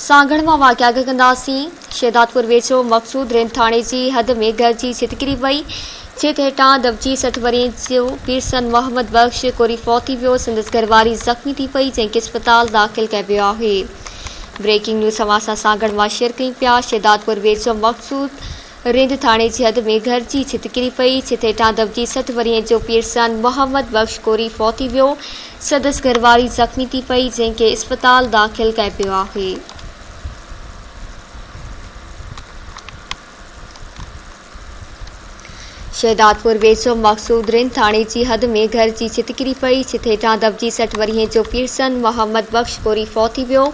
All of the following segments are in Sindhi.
سانگهڙ مان واقعا اڳ ڪنداسين. شهدادپور ويجهو مقصود رينج ٿاڻي جي حد ۾ گهر جي ڇت ڪري پئي. ڇت هيٺان دٻجي سٺ ورهين جو پيرسن محمد بخش ڪوري فوت ٿي ويو. سندس گهرواري زخمي ٿي پئي جنهن کي اسپتال داخل ڪئي ويو آهي. بريڪنگ نيوز اوهان سان سانگهڙ مان شيئر ڪيون پيا شهدادپور ويجهو مقصود رند ٿاڻي جي حد ۾ گهر جي ڇت ڪري پئي، ڇت هيٺان دٻجي سٺ ورهين جو پيرزن محمد بخش ڪوري فوت ٿي ويو، سندس گهر واري زخمي ٿي پئي، جنهن کي اسپتال داخل ڪئي پيو آهي. شهدادپور ويجهو مقصود رند ٿاڻي جي حد ۾ گهر جي ڇت ڪري پئي، ڇت هيٺان دٻجي سٺ ورهين جو پيرزن محمد بخش ڪوري فوت ٿي ويو،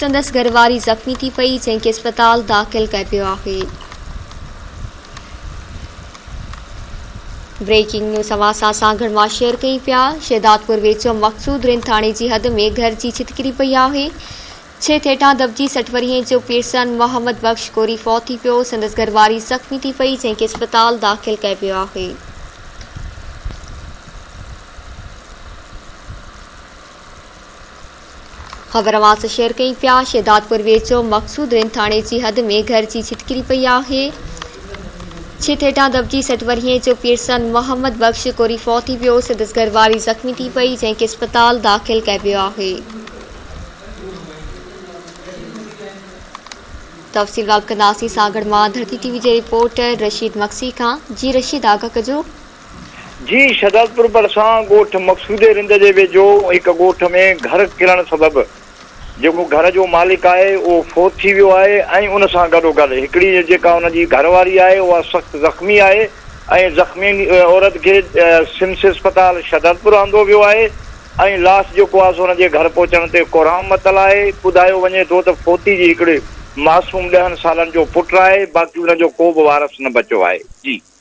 سندس گهرواري زخمي ٿي پئي، جنهن کي اسپتال داخل ڪيو آهي. بريڪنگ نيوز اوهان سان اسان گهڙواڻ شيئر ڪيون پيا شهدادپور ويجهو مقصود رند ٿاڻي جي حد ۾ گهر جي ڇت ڪري پئي آهي ڇهه ٿيٽان دٻجي سٺ ورهين جو پيرسن محمد بخش ڪوري فوت ٿي پيو سندس گهرواري زخمي ٿي پئي جنهن کي اسپتال داخل ڪيو پيو آهي خبر اوهان سان شيئر ڪيون پيا شهدادپور ويجهو مقصود رين ٿاڻي جي حد ۾ گهر جي ڇت ڪري پئي آهي ڇت هيٺان دٻجي سٽ ورهيه جو پيرسن محمد بخش ڪوري فوت ٿي ويو سندس گهر واري زخمي ٿي پئي جنهن کي اسپتال داخل ڪيو ويو آهي تفصيل باب ڪنداسين سانگهڙ مان ڌرتي ٽي وي جي رپورٽر رشيد مگسي کان جي رشيد آگاهه ڪجو جي شھدادپور ڀرسان ڳوٺ مقصودي رند جي ويجھو هڪ ڳوٺ ۾ گھر ڪرڻ سبب جيڪو گھر جو مالڪ آهي اهو فوت ٿي ويو آهي ۽ ان سان گڏوگڏ هڪڙي جيڪا ان جي گھر واري آهي اها سخت زخمي آهي ۽ زخمي عورت کي سمس اسپتال شھدادپور آندو ويو آهي ۽ لاش جيڪو آهي سو ان جي گھر پهچڻ تي ڪورام متل آهي ٻڌايو وڃي ٿو ته فوتي جي هڪڙي معصوم ڏهن سالن جو پٽ آهي باقي ان جو ڪوبه وارث نه بچو آهي جي